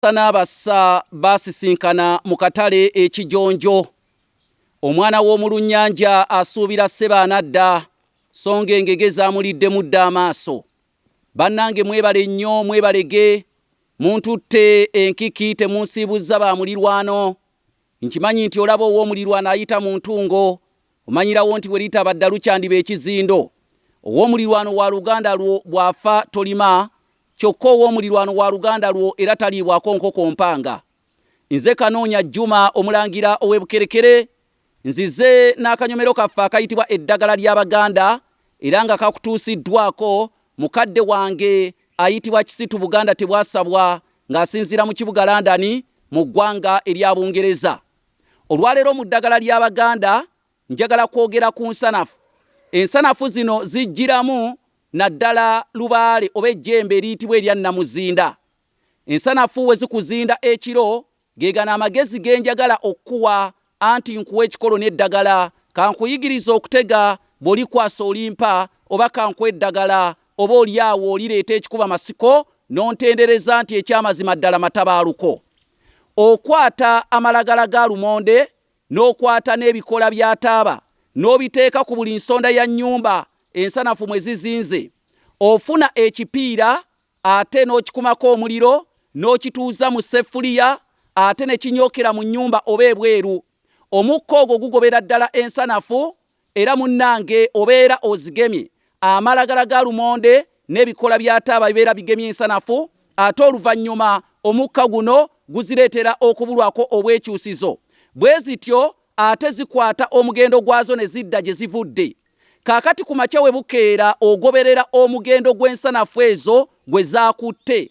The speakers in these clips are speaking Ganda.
Abasomesa n'abassa baasisinkana mu katale e Kijonjo. Omwana w'omu Lunnyanja asuubira ssebo anadda so ng'engege zaamuliddemu dda amaaso. Bannange mwebale nnyo mwebalege, muntutte enkiki temunsiibuzza ba mulirwano. Nkimanyi nti olaba ow'omulirwano ayita mu ntungo Omanyirawo nti bwe litaba ddalu kyandiba ekizindo. Ow'omulirwano wa luganda lwo bw'afa tolima, kyokka ow'omulirwano wa luganda lwo era taliibwako nkoko mpanga. Nze Kanoonya Juma Omulangira ow'e Bukerekere, nzize n'akanyomero kaffe akayitibwa Eddagala ly'Abaganda era nga kakutuusiddwaako mukadde wange ayitibwa Kisitu Buganda Tebwasabwa ng'asinziira mu kibuga London mu ggwanga erya Bungereza. Olwaleero mu ddagala ly'Abaganda njagala kwogera ku nsanafu. Ensanafu zino zijjiramu naddala lubaale oba ejjembe eriyitibwa erya nnamuzinda. Ensanafu we zikuzinda ekiro ge gano amagezi ge njagala okukuwa anti nkuwa ekikolo n'eddagala kankuyigirize okutega bw'olikwasa olimpa oba kankuwe eddagala Oba oli awo olireeta ekikuba masiko n'ontendereza nti eky'amazima ddala matabaaluko. Okwata amalagala ga lumonde n'okwata n'ebikoola bya taaba n'obiteeka ku buli nsonda ya nnyumba ensanafu mwe zizinze. Ofuna ekipiira ate n'okikumako omuliro n'okituuza mu sseffuliya ate ne kinyookera mu nnyumba oba ebweru. Omukka ogwo gugobera ddala ensanafu Era munnange obeera ozigemye amalagala ga lumonde n'ebikoola bya taaba bibeera bigemye ensanafu ate oluvannyuma omukka guno guzireetera okubulwako obwekyusizo bwe zityo ate zikwata omugendo gwazo ne zidda gye zivudde. Kaakati ku makya bwe bukeera ogoberera omugendo gw'ensanafu ezo gwe zaakutte.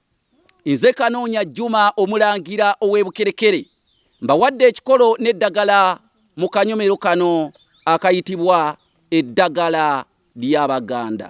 Nze Kanoonya Juma Omulangira ow'e Bukerekere mbawadde ekikolo n'eddagala mu kanyomero kano akayitibwa eddagala ly'Abaganda.